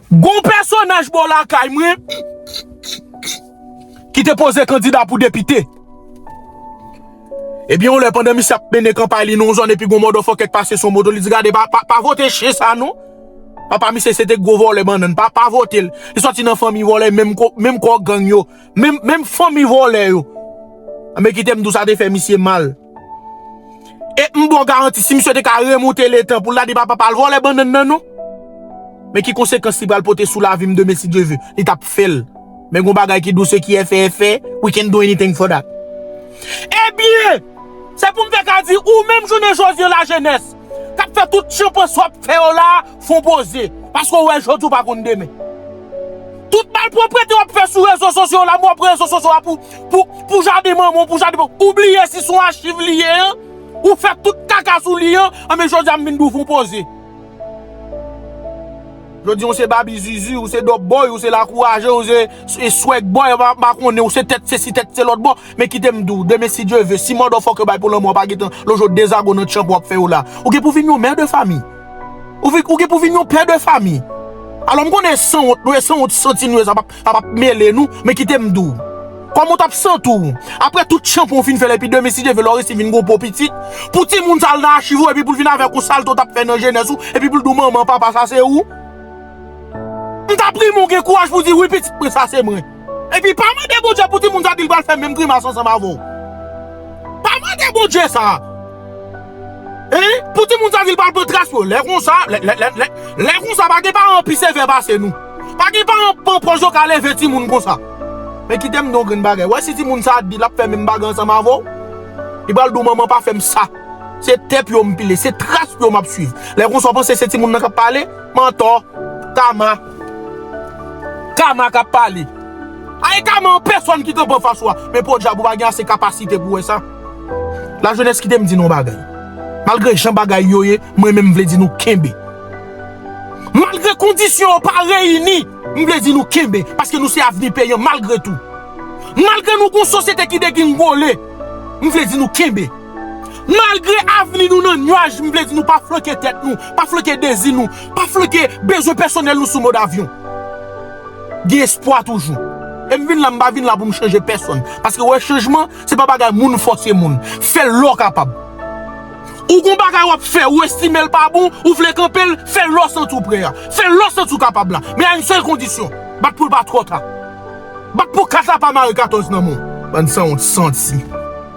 Gon pèsonaj bò lakay mwen ki te poze kandida pou depite. Ebyen yon lè pandan misye ap mennen kanpay li nan yon zòn epi gon mòdòfòkè k pase sou moto li di gade pa vote chen sa non. Papa misye se te gwo vòlè bannann pa vote l. Li sòti nan fanmi vòlè menm kò gang yo, menm fanmi vòlè yo. Anben kite m di w sa te fè misye mal. E m ba w garanti si misye te ka remonte le tan pou l ta di papa pa al vòlè bannann nan non. Men ki konsekans li pral pote sou lavi m demen si Dye ve. Li t ap fè l. Men gen yon bagay ki dous e ki efè efè, we can't do anything for that. Ebyen! Se pou m te ka di ou menm jounen jodi an lajenès k ap fè tout chan panswa w ap fè yo la a, Fon poze, paske ou wè jodi ou pa konn demen. Tout malproprete wap fè sou rezo sosyo yo la mwen pran rezo sosyo a pou pou pou jaden manman w pou jaden papa w ou bliye si son achiv li ye an ou fè tout kaka sou li an anben jodi a m vin di w fon poze jodi a ou se babi zuzu ou se dòp bòy ou se lakouraje ou se e swèg bòy m pa konnen ou se tèt sesi tèt se lòt bon men kite m di w demen si Dye ve si mòdòfòk yo bay pou lanmò w pa gentan lonje w dezago nan tchanpan w ap fè yo la ou gen pou vin yon mè de fami. Ou gen pou vin yon pè de fami. Alò m konnen sanwont nou e sanwont santi nou e sa pa ap mele nou, men kite m di w. Kòman w t ap santi w aprè tout tchanpan w fin fè la epi demen si Dye vle lè w resi vin gen yon po pitit pou timoun sa al nan achiv ou epi pou l vin avèk yon salte w t ap fè nan jenès ou epi pou l di w manman, papa sa se ou? M ta premye w gen kouraj pou w di wi pitit mwen sa se mwen. Epi pa mande Bondye pou timoun sa di l pral fè menm grimas ansanm avè w. Pa mande Bondye sa. Hein pou timoun sa di l pral pran tras yo. Lè konsa, lè konsa pa gen paran pi sevè pase nou. Pa gen paran k pran pòz yo k al leve timoun konsa. Men kite m di w yon grenn bagay, wè si timoun sa di l ap fè menm bagay ansanm avè w, li pral di w manman pa fè m sa. Se tè pye w m pile, se tras pye w m ap swiv. Lè konsa w panse se timoun nan k ap pale? Mantò! Kama! Kama kap pale. Ae kama an pèsòn ki kanpe anfas ou a. Men podyab ou pa gen ase kapasite pou wè sa. Lajenès kite m di nou yon bagay. Malgre jan bagay yo ye, mwen menm m vle di nou kenbe. Malgre kondisyon yo pa reyini, m vle di nou kenbe. Paske nou se avni peyi an malgre tou. Malgre nou gon sosyete ki degringole, m vle di nou kenbe. Malgre avni nou nan nuaj m vle di nou pa flanke tèt nou, pa flanke dezi nou, pa flanke bezwen pèsonèl nou sou mòd avyon. Gen espwa toujou. E m vin la m pa vin la pou m chanje pèsonn. Paske ou wè chanjman se pa bagay moun fòse moun. Fè l lè w kapab. Ou gon bagay w ap fè ou estime l pa bon, ou vle kanpe l, fè l lè w santi w prè a. Fè l lè w santi w kapab la. Men a yn sèl kondisyon, bat pou l pa twò ta. Bat pou kat la pa mare 14 nan men w. Bann sanwont santi.